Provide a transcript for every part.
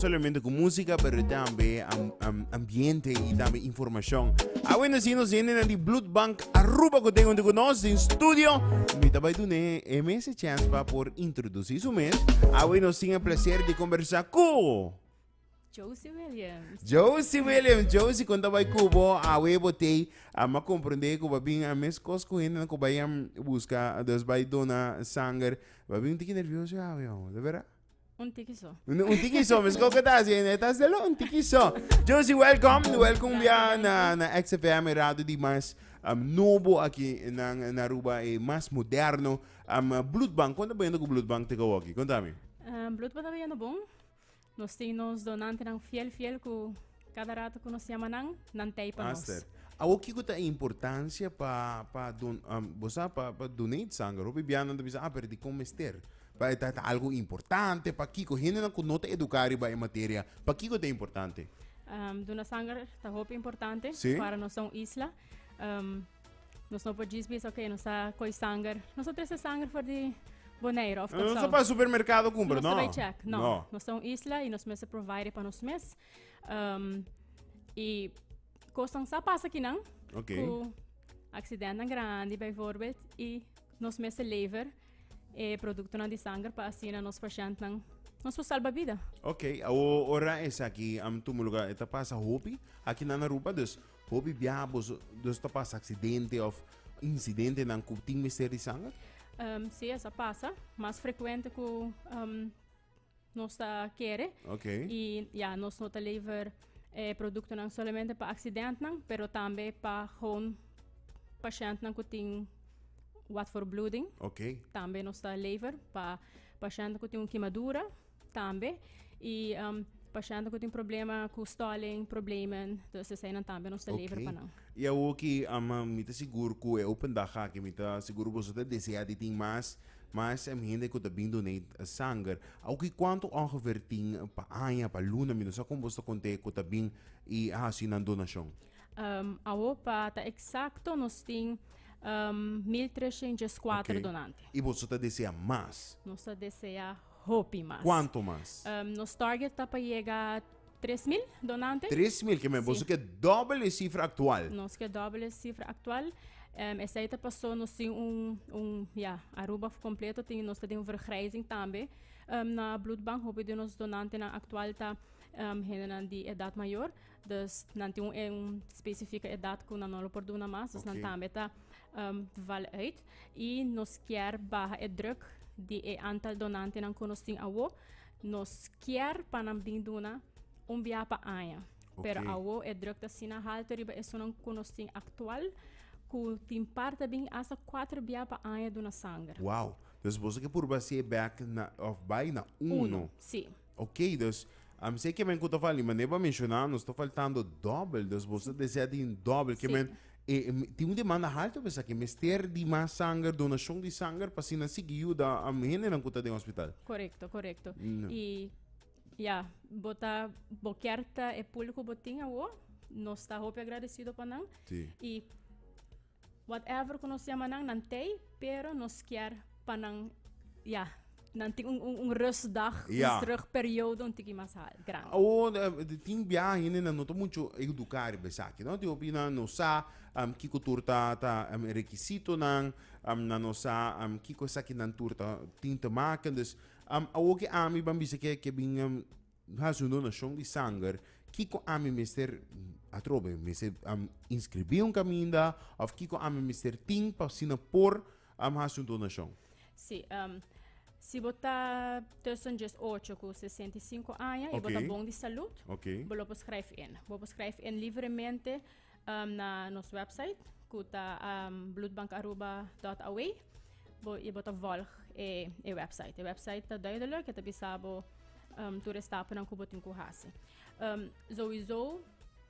solamente cu musica pero tambe am, am, ambiente y tambe informacion awen así nos yende na di blood bank aruba cu tengo con nos in studio mi tabay dune e mes chance pa por introducir su mes awen nos tiene placer de conversa cu Josie Williams. Josie William, Josie kon tabay kubo a we botei a ma comprende ku babin a mes kos ku hende ko bayan busca dos bay dona sanger babin tiki nervioso ya we de verdad Un tiki so. Un, un tiki so, mis koko ta así, ne ta solo un tiki so. Josie, welcome, welcome bia na, na XFM e radio di mas um, nobo aki na, na Aruba, e mas moderno. Um, bloedbank, konta bendo ku bloedbank te kawoki? Kontami. Uh, Bloedbank ta beyendo bon. Nos tin nos donantenan fiel, fiel ku Kada rato ku nos yama nan, nan tei pa nos. Aster, awor kiko ta e importansia pa pa don um, bo sa pa pa donate sanger? Hopi bianan ta bisa ah pero dikon mester? Pa e ta ta algo importante, pa kiko? Hendenan ku no ta eduká riba e materia, pa kiko ta importante? Um, duna sanger ta hopi importante Sí. para nos ta un isla. Um, nos no por djis bisa, ok, nos ta koi sanger. Nos ta trese sanger for di Bonaire of No Kòrsou. sa pa supermerkado kumpra, Nos no. ta bai check. No. Nos ta un isla i nos mester provide pa nos mes. Um, y cosas sa pasa aquí, nan. Okay. Cu accidenten grande, bijvoorbeeld. Y nos mes lever eh, producto de sangre para así nos pacientes nos puede salvar vida. Ok, ahora es aquí, am tu lugar, está pasa hopi, aquí na Aruba, dus hopi biabos, dus está pasa accidente of incidente nan cu ting mister de sangre? Um, sí, esa pasa, más frecuente cu um, nos ta kere. Okay. Y ya, nos no ta lever eh, productonan solamente pa accidentnan, pero tambe pa gewoon patiëntnan ku tin wat for bloeding. Okay. Tambe nos ta lever pa patiëntnan ku tin un kimadura, tambe. Y um, patiëntnan ku tin problema ku stalling, problemen, dus eseinan tambe nos ta lever pa nan. Y awo ki ama mi ta sigur ku e open dag aki mi ta sigur boso ta desea di tin mas Mas em hende ku ta bin donate sanger. Oki kuantu ongeveer tin pa aña, pa luna, mi no sa kon bos ta kont'é ku ta bin i a hasi nan donashon? Ehm, awo pa ta eksakto nos tin, ehm, mil treshent djes kuater donante. Ok. I boso ta desea mas? Nos ta desea hopi mas. Kuantu mas? Ehm, nos target ta pa yega. Tres mil donante. Tres mil kemen. Boso ke doble e sifra aktual. Nos ke doble e sifra aktual. Um, esei ta pasó nos tin un, un, ja, Aruba kompleto tin, nos ta den un vergrijzing tambe um, na bloedbank. Hopi di nos donantenan aktual ta um, hendenan di edat mayor. Dus nan tin un, un spesifika edat ku nan no lo por duna mas. Dus nan tambe ta um, val uit. I nos kier baha e druk di e antal donantenan ku nos tin awo. Nos kier pa nan bin duna un biaha pa aña. Pero okay. awo e druk ta sina halto riba esonan ku nos tin aktual ku tin par ta bin hasta 4 biaha pa aña duna sanger. Wow. Dus boso ke purba se back na, of bai na uno. uno. Si. Ok, dus um, se ke men ku ta fali, maneer pa menshona, nos ta faltando dobbel. Dus boso desea tin dobbel. Ke si. men E, tin un demanda halto mesaki, mester di mas sanger, donashon di sanger, pa asina sigui yuda hendenan ku ta den hospital. Korekto, korekto. No. I ya, bo ta, bo kier ta e pul ku bo tin awo, nos ta hopi agradesido pa nan. Si. I whatever ku nos yama nan, nan tei, pero nos kier pa nan, ya, Dan tin un, un, un rustdag, un Ja. terugperiodo un tiki mas al, grandi. O eh, de tin bia hende nan no ta mucho educa riba esaki, no? Tin hopi nan no sa am, kiko tur ta ta am, e rekisitonan, am, nan no sa am, kiko esakinan tur ta tin te make. Dus, am, awor ke ami ban bisa ke ke bin am, Mi hasi un donashon di sanger, kiko ami mester atrobe? Mester inskribí un kaminda òf kiko ami mester tin pa asina por hasi un donashon? Sí. Si bo ta tussen djes ocho ku sesenta i sinku aña i bo ta bon di salú, bo lo por skrijf in. Bo por skrijf in libremente. um, na nos website ku ta um, bloedbankaruba.aw bo i bo ta volg e, e website e website ta duidelijk e ta bisabo um, tur e stapunan ku bo tin ku hasi um, sowieso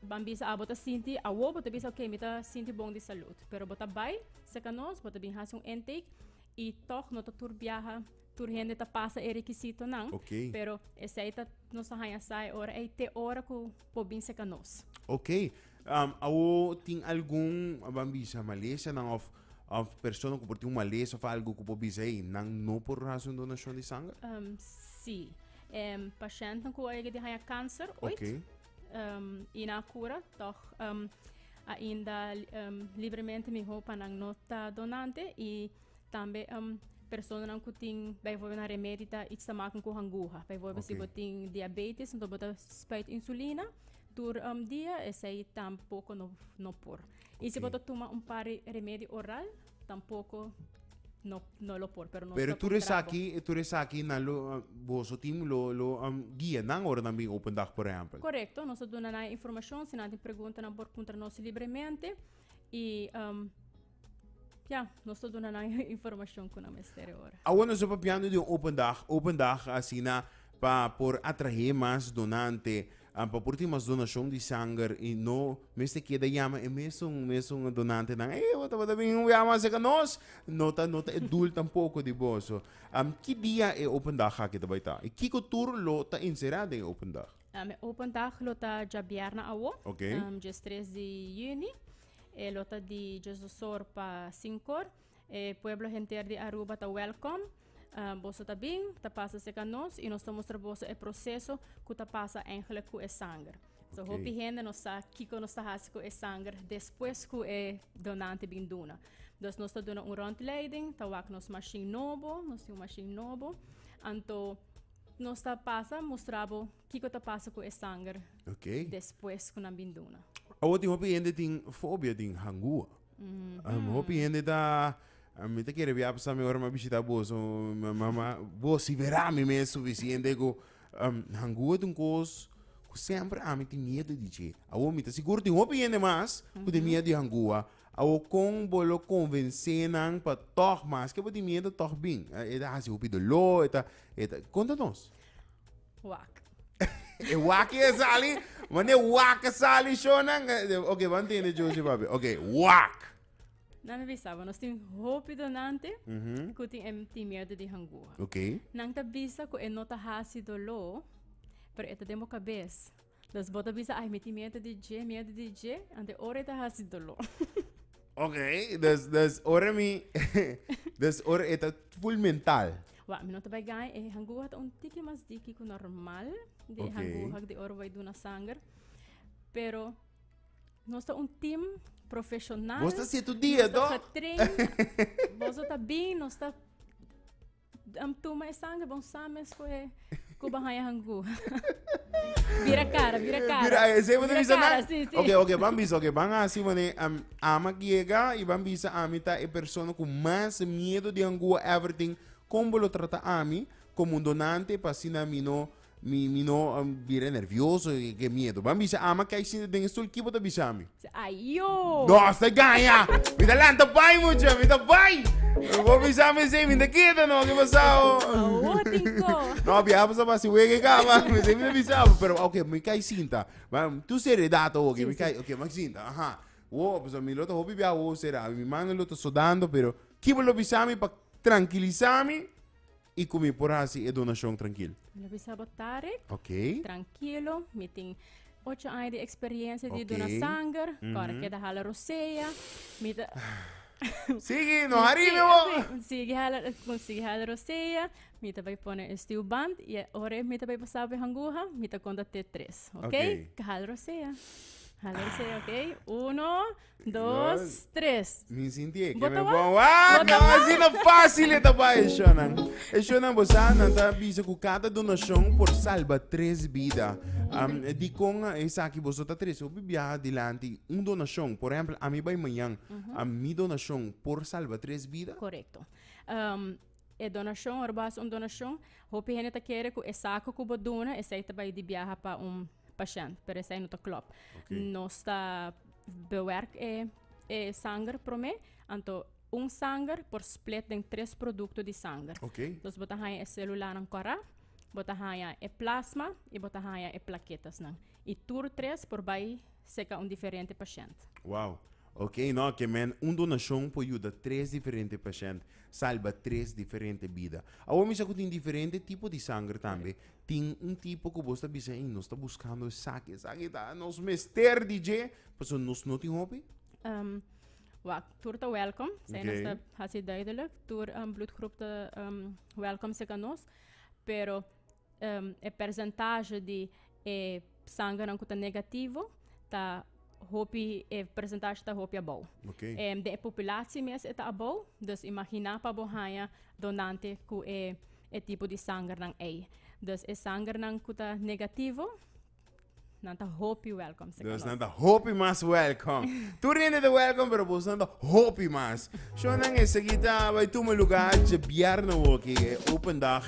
ban bisa ah, bo ta sinti awo bo ta bisa ok mi ta sinti bon di salud pero bo ta bai seka nos bo ta bin hasi un intake i toch no ta tur biaha tur hende ta pasa e requisito nan okay. pero esei ta nos ta haya sai ora ei te ora ku por bin seca nos. Ok. Um, awo tin algun van bisa maleshanan of of persona ku por tin un malesha of algo ku por bisa hey, nan no por hacer un donacion di sangre? Um, sí. Um, patiënten ku a di haya cáncer ooit. Ok. Um, y na cura, toch um, ainda um, libremente miho pa nan no ta donante y Tambe um, personanan ku tin byvoorbeeld na remedi ta iets te maken ku hanguha. Byvoorbeeld okay. si bo tin diabetes, dan bo ta spuit insulina tur um, dia esei tampoco no, no por. Okay. Y si bo ta toma un par remedi oral, tampoco no, no lo por. Pero, no pero tú eres aquí, tú eres aquí, na lo, ah, vos o team lo, lo um, guía, nan ora nan bin open dag, por ejemplo. Correcto, nos duna na información, si nan tin pregunta, nan por contra nos libremente. Y um, Ya, nos ta duna nan e informashon ku nan mester e ora. Awo nos ta papiando di un open dag, open dag asina pa por atrahe mas donante, pa por tin mas donashon di sanger i no mester keda yama e mesun mesun donantenan, ey bo tabata bin yama aserka nos, no ta no ta e dul tampoko di boso. Ki dia e open dag aki ta bai ta i kiko tur lo ta inserá den e open dag? E open dag lo ta djabièrna awo, djes tres di yüni. E lota di Jesusor pa Sincor. E pueblo henter di Aruba ta welkom. Ah, boso ta bin, ta pasa cerca nos y nos ta mustra boso e proceso cu ta pasa eigenlijk cu e sanger. So, Oké. hopi hende no sa kico nos ta haci cu e sanger despues cu e donante bin duna. Dus nos ta duna un rondleiding, ta wak nos machine nobo, nos tin un machine nobo. Anto, nos ta pasa mustra bo. Kiko ta pasa ku e sanger okay. despues ku nan bin duna? Awor tin hopi hende tin fobia tin hangua. Mm -hmm. um, hopi hende ta a mi te kere bia pasa mi ora ma bishita boso mama bosi vera mi me suficiente go um, hangu et un kos ku sempre a mi ti miedo di che awo mi ta sigur ti hopi yende mas ku de mhm. miedo di hangua awo kon bolo convence nan pa toch mas ke ti miedo toch bin e da hasi hopi dolor eta eta konta nos Wak. E waki e sali, wanneer wak e sali, Shonan. eh, Oké, wat entiende Josie, papi? Oké, wak. Nan mi bisa, nos tin hopi donante Mhm. ku tin em tin miedo di hangua. Oké. Nan ta bisa ku e no ta hasi doló, pero e ta den bo kabes. Los bo ta bisa, ai, mi tin miedu di dje, miedu di dje, ante ora e ta hasi doló. Ok, dus, dus ora mi, dus ora e ta full mental. Wak, mi no ta bai gain. E hanguha ta un tiki mas diki ku normal di e Ok. hanguha di ora bo bai duna sanger. Pero nos ta un team profeshonal. Bos ta situ dia, Nos ta toch? getraind. Boso ta bin, nos ta Am tuma e sangre bon sa mes ku e ku ba haya hangu. Vira cara, vira cara. Mira, eh, se Vira bisa cara, na. sí, sí. Ok, ok, van bisa, ok, van así, mané. Um, ama llega y van bisa ami ta e persona con más miedo de angua everything. Combo lo trata ami como un donante pa así na mi no Mi, mi no um, bira nervioso, e que miedo. Ban bisa ama kai sin den estul kibo ta bisa mi. Ayo. No, hasta gaya. Mi ta lanta pai mucha, mi ta pai. Bo bisa mi se mi ta queda no que pasao. Oh, tinko. No, bia pasa pa si wege kaba. Mi se mi ta bisa, pero okay, mi kai sinta. Ban tu seriedad o okay, mi kai, okay, mak sinta. Aha. Wo, pues mi lo ta hopi bia wo sera. Mi manga lo ta sodando, pero kibo lo bisa mi pa tranquilisa mi. y cu mi por haci e donacion trankil? Mi lo bisa bo Tarek. Ok. Trankilo, mi tin ocho aña di experiencia di Ok. dona sanger. Kora Mhm. keda hala rosea. Mi ta... Sigui, no hari mi bo. Sigui hala, con sigui hala rosea. Mi ta bay pone e stuw band y e ora mi ta bay pasaba bay hanguha, mi ta conta te tres. Ok? Ok. Hala rosea. Hala rosea, ok? Uno, Dos, tres. Mi sinti e que me bon. Ah, no, así no fácil esta pa e shonan. E shonan bosa nan ta bisa ku cada donación por salva tres vida. Um, di kon e saki boso ta tres obi bia dilanti un donación. Por ejemplo, a mi bai mañan. A mi donación por salva tres vida. Correcto. Um, e donacion, ora bo haci un donacion, hopi hende ta kere ku e saki ku bo duna, esei ta bai di biaha pa un pashènt, pero esei no ta klòp. Nos ta bewerk e e sanger promé, anto un sanger por split den tres produkto di sanger. Dus bo ta haña e sélulanan kòrá, bo ta haña e plasma i bo ta haña e plaketasnan. I tur tres por bai serka un diferente pashènt. Wow. Ok, no, ke men un donashon por yuda tres diferente pashènt, salba tres diferente bida. Awor mi sa ku tin diferente tipo di sanger tambe, Tin un tipo cu bos ta bisa, ey, nos ta buscando esaki, esaki ta nos mester di dje, pasobra nos no tin hopi? Um, wacht, tur ta welkom. Zij nos ta Oké. haci duidelijk. Tur um, bloedgroep ta um, welkom zeker nos. Pero um, e percentage di e Sanganan ku ta negativo ta hopi e persentashe ta hopi abou. Okay. Em, den e populatsi mes e ta abou, dus imaginá pa bo haña donante ku e e tipo di sangernan ei. Dus e sangernan ku ta negativo, nan ta hopi welkom. Dus nan ta hopi mas welkom. Tur hende ta welkom, pero bosnan ta hopi mas. Shownan esaki ta bai tuma luga dje bierna woki e open dag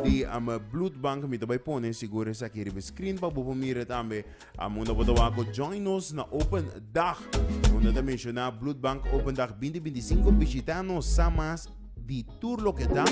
di am bloed bank mi ta bai pone sigur esaki riba screen pa bo por mira tambe am unda bo ta wako join nos na open dag unda ta menciona bloed bank open dag 2025 bishita nos sa mas di tur loke ta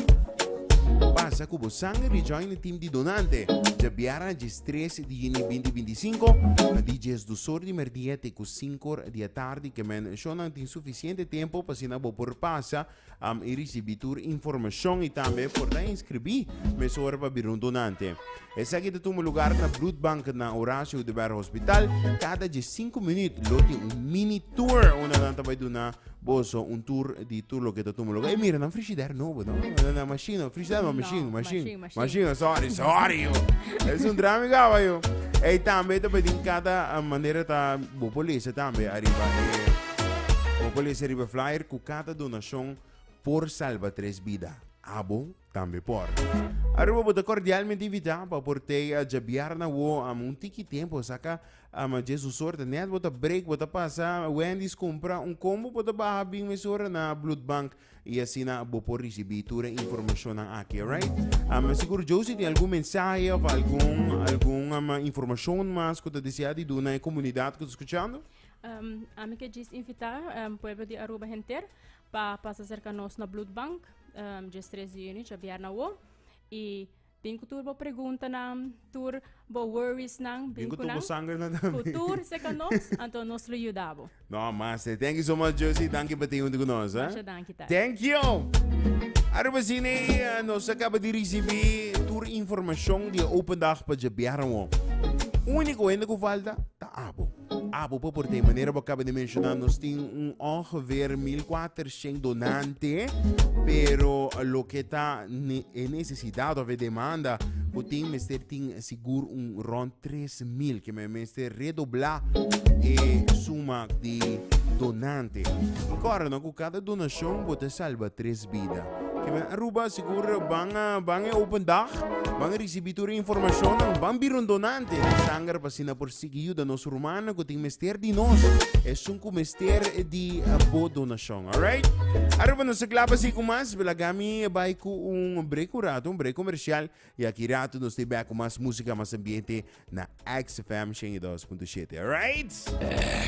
pasa ku bo sanger di join e team di donante dje bierna djes tres di juni 2025 na di djes dosor di merdia te ku sink or di e tardi ke men shonnan tin sufisiente tempu pa asina bo por pasa am i risibi tur informashon i tambe por ta inskribí mesora pa bira un donante. Esaki ta tuma lugar na Bloedbank na Horacio de Berg Hospital. Kada dje sinku minüt lo tin un mini tour unda nan ta bai duna boso un tour di tur loke ta tuma lugar. E mira nan frishider nobo no, nan mashin no, frishider no, mashin, mashin. Machine, sorry, sorry yo. Es un drama mi gaba yo. Ey tambe te pedin cada ah, manera ta bo por lezen tambe arriba eh, bo por lezen arriba flyer cu cada donacion por salva tres bida. Abo tambe por. Aruba bo ta cordialmente invita pa por te a jabiar na wo am un tiki tempo saca ama Jesus sorte net bo ta break bo ta pasa Wendy's compra un combo bo ta baha bin mesora na bloed bank Y asina bo por ricibi tur e informacionnan aki, alright? Um, mi sigur Josie tin algun mensahe of algun, algun um, informacion mas cu ta desea di duna e comunidad cu ta scuchando? Um, ami ke djis invita um, pueblo di Aruba henter pa pasa cerca nos na bloedbank um, djes tres di juni djabièrnè awo y Bin ku tur bo preguntanan, tur bo worriesnan. Bin ku tur bo sangernan tambe. Ku tur seka nos, anto nos lo yuda bo. No mas te. Thank you so much Josie. Danki pa tin huntu ku nos. Masha danki Tati. Thank you! Aruba Cine, nos a kaba di risibí tur informashon di e open dag pa djabiar awor. Úniko hende ku falta ta abo. Abo pa por ta e manera bo a kaba di menshoná nos tin un ongeveer mil kuater. shen donante, pero loke ta e necesidad of e demanda cu tin mester tin sigur un rond tres mil, ke men mester redobla e suma di donante. I kòrda no cu cada donacion bo ta salba tres bida. Ke men Aruba sigur ban a ban e open dag, ban a ricibi tur e informacionnan, ban bira un donante di sanger pa asina por. Tin yuda nos rumannan ku tin mester di nos, esun ku mester di bo donashon. Alright? Arepa nos ta kla pa sigui ku mas, laga mi bai ku un brik un ratu, un brik komershial, i aki ratu nos ta e bèk ku mas músika, mas ambiente na XFM 102.7. Alright?